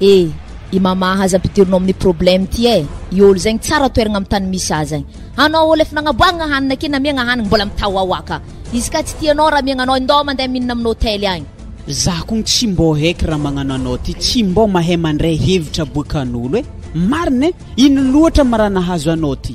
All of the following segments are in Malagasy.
E! I Mama aza ampidirinao amin'ny problème ty eh! I ol zegny tsara toeragna amin'ny tany misy azy eh! Anao ol efa nagnaboahagna hanina ke namiagna hanigny mbola mitahoahoa ka! Izy ka tsy tia anao raha miagna anao indao mandeha mihinana amin'ny hotely agny! Za kogny tsy mbô heky raha magnano anao ty tsy mbô mahay mandray hevitra boakan'olo eh! Marina eh! Ino loatra ma raha nahazo anao ty?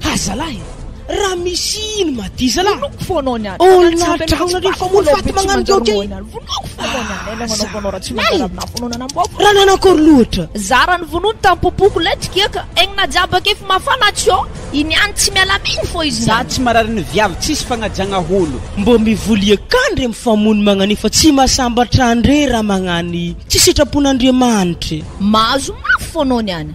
Ha zalahy Raha misy ino ma ty zalahy Vonoiko fo anao niany Oh lany drahona re fa molo faty magnano joke e Vonoiko fo anao niany Hay namanao fo anao raha tsy manjary aminah fo anao nanamboako Raha nana akory loatra Zara ny vonoiny tam pompoko lety kiaka Egny na jiaby akefy mafana tsy ao I niany tsy miala amigny fô izy Za tsy marary ny viavy tsisy fagnajagna holo. Mbô mivoly eka ndre mifamono magnan'io fa tsy mahasambatra andre raha magnany tsy sitrapon'Andriamanitra e. Mahazo mafy fô anao niany.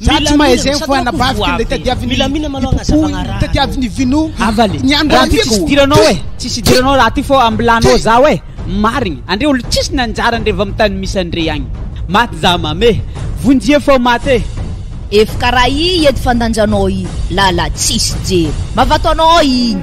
Za tsy mahay zegny fa anabaviky anle tadiavin'ny hipopo igny no tadiavin'ny vino Avaly, ny andro raha ty tsisy idiranao e, tsisy idiranao raha ty fô ambilanao zaho e, marigny andre olo tsisy nanjary andre va mitany misy andre agny, maty za mame, vonjeo fô maty e. Ef karaha i ed fandanjanao i lala tsisy jery mavato anao igny.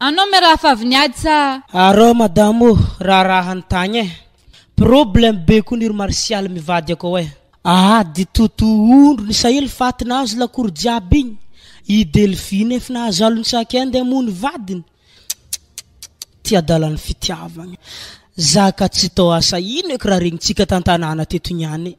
Anao me raha favy niady sa. Arao madame o raharaha ny tagny eh problème be ko ny ry martial mivady akao eh. Ady toto ondry ny sahely faty nahazo lakoro jiaby igny i delphine ef nahazalo ny sac inde mo ny vadiny tchttchtt ty adala ny fitiavagna zaka tsy tao asa ino eky raha regnintsika tantanàna teto niany e.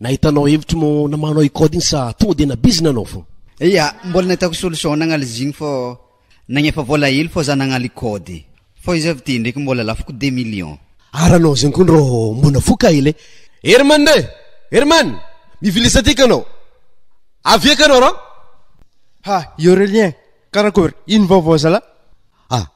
Nahita anao hevitry mo namano i code iny sa tonga de nabizina anao fô. Ia, mbola nahitako solution nagnala izy igny fô nagnefa vôla hely fô za nagnala i code. Fô izy avy ty ndraiky mbola lafo ko deux millions. Ary anao zegny ko ndro mbo nafoka hely e. Herman re! Herman! Mivilisa ty ka nao! Avia ka nao ra! Ha! I Aurelien! Karakory? Ino vaovao zalah? Ah!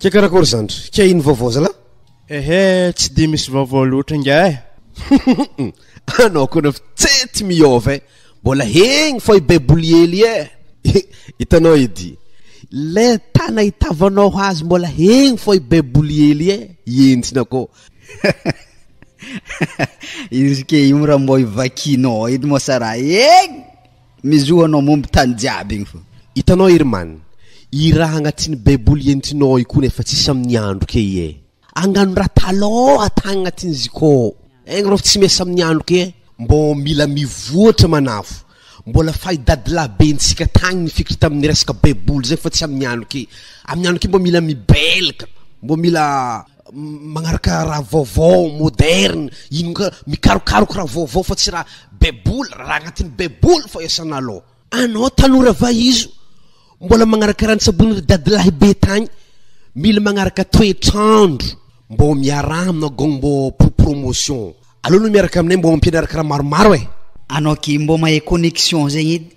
Kay karakôry zany ry? Kay ino vaovao zalah? Ehe, tsy dia misy vaovao loatra ingahy eh! Anao koa nefa tse tsy miôva eh! Mbola egny fô i Baiboly hely eh! Hitanao edy, le tana itavanao azy mbola egny fô i Baiboly hely eh! Hientsina koa. Izy ke io raha mbô ivakianao edy moa sa raha egny? Ny zo anao mombo tany jiaby igny fô. Hitanao ery man, i raha agnatiny baiboly ientinao ao ikony efa tsisy amin'ny andro ke ie. Angano raha talôha tagny agnatiny izy ikô. Egny rô fa tsy miasa amin'ny andro ke e. Mbô mila mivoatra manafo. Mbola fahy dadilahibentsika tagny ny fikitra tamin'ny resaka baiboly zay fa tsy amin'ny andro ke. Amin'ny andro ke mbô mila mibelka, mbô mila. Magnaraka raha vaovao, moderne, ino ka, mikarokaroka raha vaovao fa tsy raha baiboly, raha agnatin'ny baiboly fô iasana alôha. Anao tanora vahizo mbola magnaraka raha nitsaboin'ny ry dadilahy be tagny, mila magnaraka toetr'andro mbô miaraha aminao gôgny mbô pour promotion. Aleo anao miaraka aminay mbô ampianaraka raha maromaro e. Anao ke mbô mahay connexion zegny edy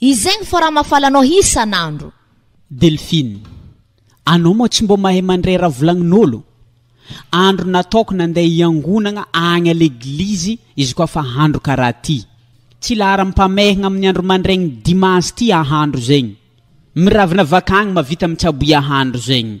Izegny fa raha mafaly anao isan'andro. Delphine, anao moa tsy mbô mahay mandray raha volagnin'olo? Andro nataoko nandeha hiangonagna agny à l'église izy koa fa andro karaha ty. Tsy laharam-pamehagna amin'ny andro mandraigny dimanche ty ahandro zegny. Miravina avak'agny mavita mitsabo iahandro zegny.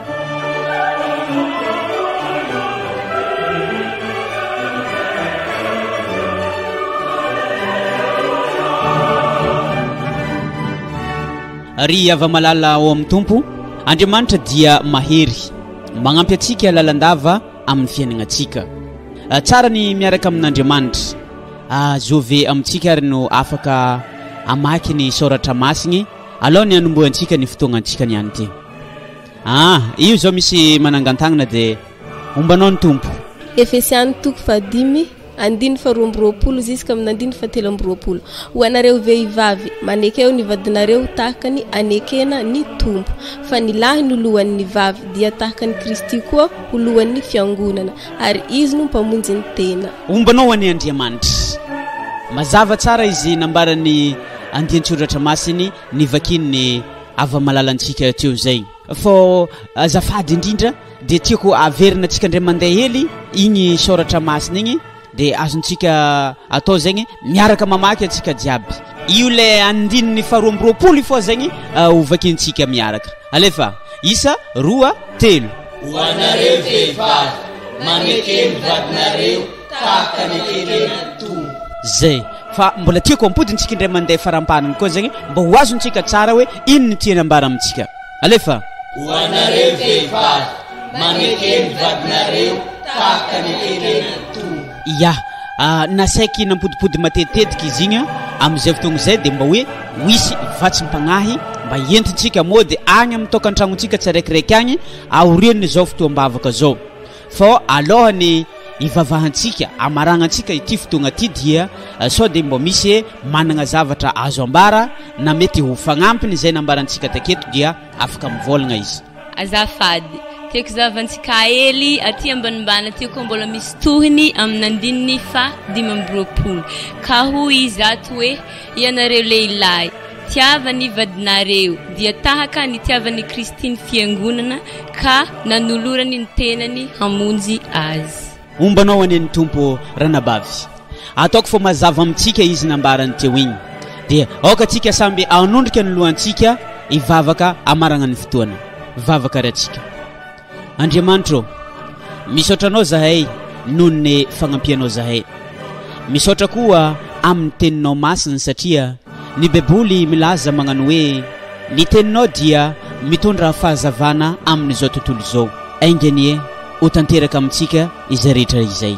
ry hava-malala ao amin'ny tompo andriamanitra dia mahery magnampy antsika lalandava amin'ny fiainagna antsika tsara ny miaraka amin'andriamanitra azove amintsika ary no afaka amaky ny saoratra masigny Alao ny hanombohantsika ny fotoagnantsika ny any ty. Ah, io zao misy manangan-tagnana de ombanao ny Tompo. Efesiana toko fahadimy andininy faharoa amby roapolo ziskamin'ny andininy fahatelo amby roapolo, Ho anareo vehivavy, manekeo ny vadinareo tahaka ny anekena ny Tompo. Fa ny lahy no lohan'ny vavy, dia tahaka an'i Kristy koa ho lohan'ny fiangonana, ary izy no mpamonjy ny tena. Ombanao an'i Andriamanitra. Mazava tsara izy nambaran'i. andian-tsoratra masiny nivakian'ny hava-malalantsika teo izay. Fô azafady indrindra dia tiako averina antsika indray mandeha hely igny soratra masina igny dia azontsika atao zegny miaraka mamaky antsika jiaby. Io le andininy faharoa amby roapolo io fô zegny uh, hovakiantsika miaraka. Alefa, isa, roa, telo. Ho anareo vehivavy, manekeny vadinareo tahaka ny eken'ny Tompo. Zay. Fa mbola tiako ampodintsika indray mandeha farampaniny koa zegny mba ho azontsika tsara hoe ino ny tiany ambara amintsika. Alefa. Ho anareo vehivavy, maneke ny vadinareo tahaka ny eken'ny Tompo. Ia. Ah, nasaiky nampodipody matetitetika izy igny am'izay fotoagna izay dia mba hoe ho hisy vatsim-pagnahy mba entintsika mody agny amin'ny tokantragnontsika tsiraikiraiky agny aorian'izao fotoam-bavaka zao. Fa alohan'ny hivavahantsika, hamaragnantsika ity fotoagna ty dia sao dia mbô misy managna zavatra azo ambara na mety ho fagnampiny izay nambarantsika taketo dia afaka mivôlagna izy. Azafady, tiako zavantsika hely aty ambanimbany aty koa mbola misy tohiny amin'ny andininy faha dimy amby roapolo ka hoy izy ato hoe. Ianareo lehilahy, tiava ny vadinareo, dia tahaka ny tiavan' i Kristy ny fiangonana, ka nanolorany ny tenany hamonjy azy. Ombanao anie ny Tompo ô ranabavy. Ataoko fa mazava amintsika izy nambarany teo iny. Dia aoka tsika samby hanondrika ny lohantsika hivavaka hamaragna ny fotoana. Vavaka ratsika. Andriamanitra ô misaotra anao zahay noho ny fagnampianao zahay misaotra koa amin'ny teninao masiny satria ny baiboly milaza magnano hoe ny teninao dia mitondra fahazavana amin'izao tontolo izao ainganie ho tanteraka amintsika izay rehetra izay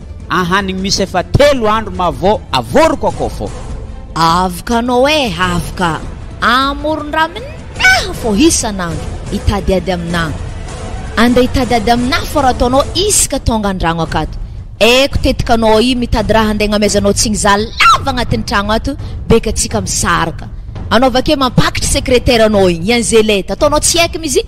Ahanigny misy efa telo andro ma vao avoriko akao fô. Avoka anao e, avoka amoron-drà aminaha fô isan'andro, hitady ady aminaha. Andeha hitady ady aminaha fô raha ataonao isaka tonga an-dragno akato. Eko tetika anao aia mitady raha handeha hagnameazanao tsigny za lava agnatin'ny tragno ato beka tsika misaraka. Anao vakeo mampakitry sekreteranao igny, i Angelette, ataonao tsy heky mizy.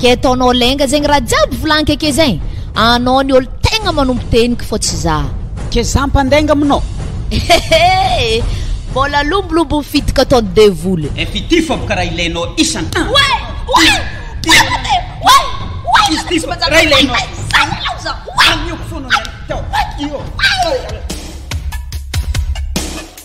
Ke ataonao lainga zegny raha jiaby volagnke ke zegny anao ny olo tegna manompo tegniko fô tsy za. Ke za mpandainga aminao. Ehehe! Mbôla lombolombo fidiko ataon'ny devoly. Efa ity fô boka raha ilainao isan. Way! Way! Tena te! Way! Way! Izy ity fô raha ilainao. Way! Zay ialaho za! Way! Anioko fôna ny anao. Teo! Way! Iô! Way!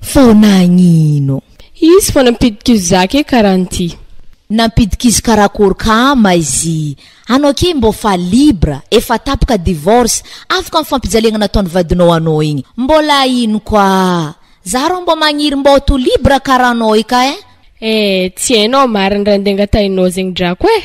Foana agnino. Izy fô nampidik'izo za ke karaha anty. Nampidik'izo karakôry ka ma izy. Anao ke mbô fa libre, efa tapaka divorce, afaka am fampijaliagna nataony vadinao anao igny. Mbôla ino koa. Za rô mbô magniry mbô to libre karaha anao io ka eh. Eh tsy hainao marigny raha nde angatahinao zegny drako eh.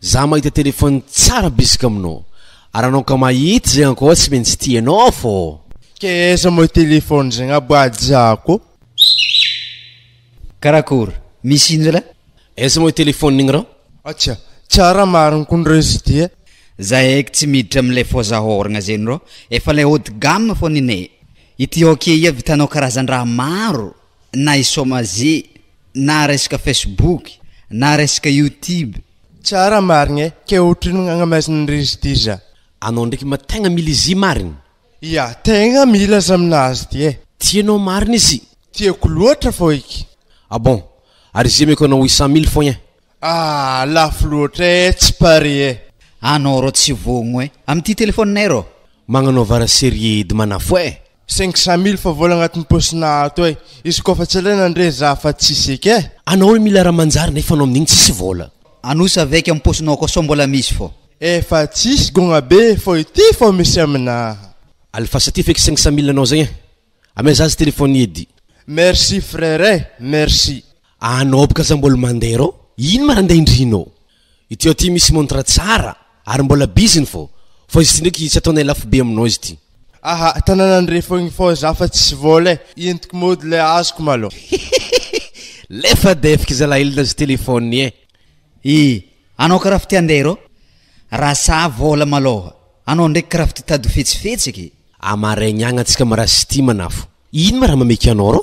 Za mahita téléphone tsara bisika aminao ary anao ka mahita izay ankoatsy tsy maintsy tianao fô. Ka aiza moa téléphone zay ngah bajako ô? Karakory? Misy ino zala? Aiza moa téléphone igny rah? Atsya, tsara marigny kony reo izy ty e. Za eky tsy miditra amin'ilay foza hôragna zegny rô, efa ilay haut de gamme fô nene. Ity ok ia vitanao karazan-draha maro? na i somaze, na resaka facebook, na resaka youtube. Tsara marigny eh! Ke otrino gn'agnamezan'ny riz-diza. Anao ndraiky ma tegna mila izy marigny? Ia, tegna mila azy aminazy ty eh! Tianao marigny izy? Tiako loatra fô iky. Ah bon! Ary izy meko anao huit cent mille foagna eh! Ah lafo loatra eh tsy pare eh. Anao rô tsy voagno eh. Amin'ity telefoninay rô. Magnanao vara serie edy manafo eh. Cinq cent mille fa vola agnatin'ny paosinà ato eh. Izy kôfa tsy alaina ndre za fa tsisy eky eh. Anao le mila raha manjary nefa anao amin'igny tsisy vola. Anosy avec am paosinao akao sao mbola misy fô. Efa tsisy gogna be fô ity fô misy aminà. Alifasa ty feky cinq cent mille anao zegny eh. Amea zazy telephone edy. Merci frère eh merci. Anao boka aza mbola mandeha rô? Ino ma ra ndeha indrinô? Ity ao ty misy montre tsara ary mbola biziny fô, fô izy ty ndraiky tsy ataonay lafo be aminao izy ty. Aha, tananan'i re fogna fô za fa tsy vôla e, entiko môdy le azoko malô. Hihihihi, le fa defiko zalahy il nazy telephone e. Hi, anao karaha fa ty handeha rô? Ra sa vôla malôha? Anao ndraiky karaha fa ty tady ho fetsifetsy ky. Amaraigny agny antsika ma ra sy ty manafo. Ino ma ra mameky anao rô?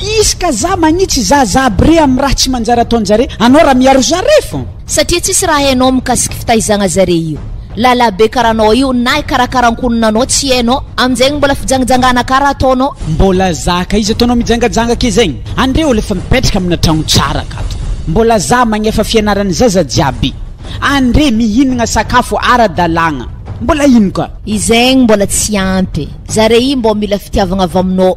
Izy ka za magnitsy zaza aby re am raha tsy manjary ataonjare anao raha miaro zare fô. Satria tsisy raha hainao mikasiky fitaizagna zare io lalah be karaha anao io na hikarakara ankonona anao tsy hainao amizegny mbola fijangijangana ka raha ataonao. Mbola za ka izy ataonao mijangajanga ake zegny andre olo efa mipetraka amina tragno tsara akato mbola za magnefa fianarany zaza jiaby andre mihinagna sakafo ara dalagna mbola ino ka. Izegny mbola tsy ampy e. Zare io mbô mila fitiavagna avy aminao.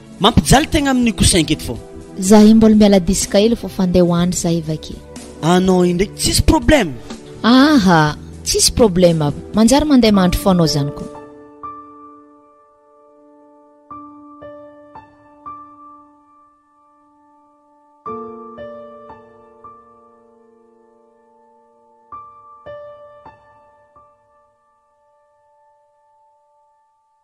Mampijaly tegna amin'io kosa enga eto fô. Zahay mbola miala diska ela fô fa ndeha ho andry zahay vake. Anao io ndraiky tsisy problème. Aha, tsisy problème abo. Manjary mandeha mandry fô anao zany ko.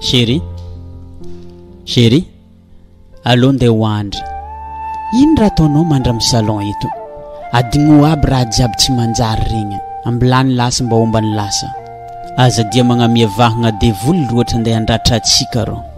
Chérie, chérie, allo ndeha ho andry. Ino raha ataonao mandra amin'ny salon eto? Adigno aby raha jiaby tsy manjary regny. Ambilany lasa mba omba ny lasa. Aza dia magnamia vahagna devoly loatra ndeha handratra antsika rô.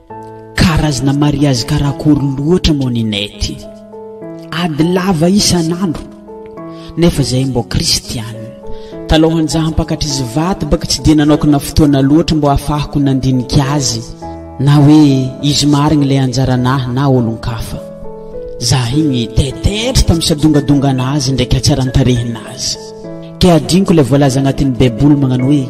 Karazana mariazy karakory loatra moa Ninette? Ady lava isan'andro nefa zahay mbô kristiana. Talohan'izaho hampakatr'izy vato baka tsy dia nanokana fotoana loatra mbô hahafahako nandinika azy na hoe izy marigny ilay anjaranahy na olon-kafa. Zaho igny taitaitra tamin'ny sadongadonganazy ndraiky hatsaran-tarehinazy. Kay hadinoko ilay voalaza agnatin'ny Baiboly magnano hoe,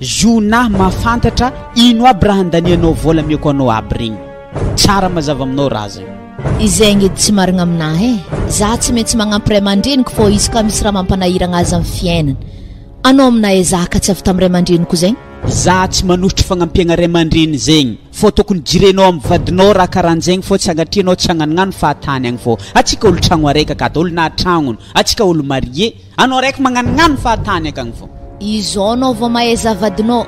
Jonah mahafantatra ino aby raha handanianao vola amiako anao aby regny. Tsara mazava aminao raha zay. Izegny edy tsy marigna aminà e! Zah tsy maintsy magnampy ray aman-dreniko fô izy ka misy raha mampanahiragna azy am fiainany. Anao aminà e zah ka tsy avy tam ray aman-dreniko zegny? Zah tsy manosotro fagnampiagna ray aman-dreny zegny fô tokony jirenao am vadinao raha karanjegny fô tsy agnatrianao tsy agnanognano fahatany agny fô atsika olo-tragno araiky akato olo-nahatragnony atsika olo-marié Anao raiky magnanognano fa tany akagny fô. Izao anao vao mahay zavadinao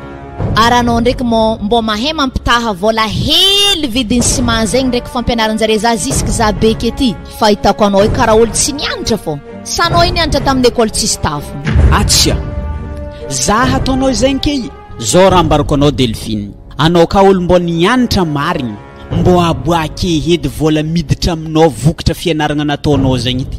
ary anao ndraiky mô mbô mahay mampitaha vôla hely vidiny ciment zegny ndraiky fampianaranjare za zisiky za beky ety fahitako anao io kara olo tsy nianatra fô sa anao io nianatra taminy école tsisy tafo. Atsia! Za hataonao zegny ke i. Zao raha ambarako anao Delphine, anao ka olo mbô nianatra marigny, mbô aboake edy vôla miditra aminao vokatra fianaragna nataonao zegny ity.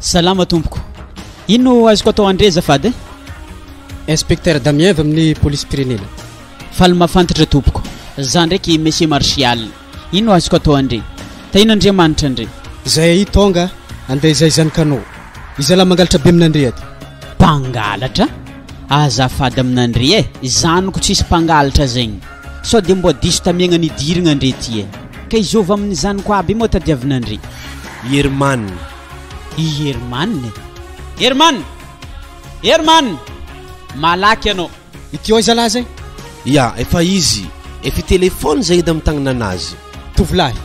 Salama tompoko. Ino azoko atao andre azafady eh? Inspecteur Damien avy amin'ny polisim-pirenena. Faly mahafantatra tompoko. Za ndraiky Monsieur Martial. Ino azoko atao andre? Tahina Andriamanitra andre. Izay ahi tonga andeha izay izany kanao. Izalahy mangalatra be amin'andre aty. Mpangalatra? Azafady amin'andre eh. Zaniko tsisy mpangalatra zegny. Sao de mboa diso tamiagna nidirigna ndre ty e. Ka izao avy aminy zanako aby moa tadiavina ndre. I Herman. I Herman e. Herman! Herman! Malaky anao. Ity ao zalahy zay. Ya, efa izy. Efa telephone zay edy am tagnananazy. Tovolahy,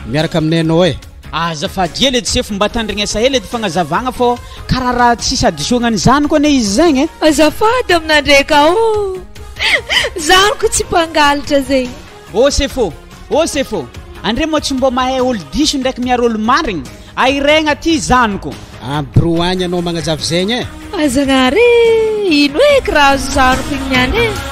miaraka aminay anao e. Azafady ela edy sefo mba tandrignesa ela edy fagnazavagna fô karaha raha tsisy hadisoagna ny zanako anie izy zegny e. Azafady aminandreka ô. Zany ko tsy mpangalatra zegny. Ô sefo, ô sefo, andre moa tsy mbô mahay olo diso ndraiky miaro olo marigny? Ahiregna aty zaniko. A bro agny anao magnazava zegny e. Ah zagnahary e, ino eky raha azo zaniko igny niany e.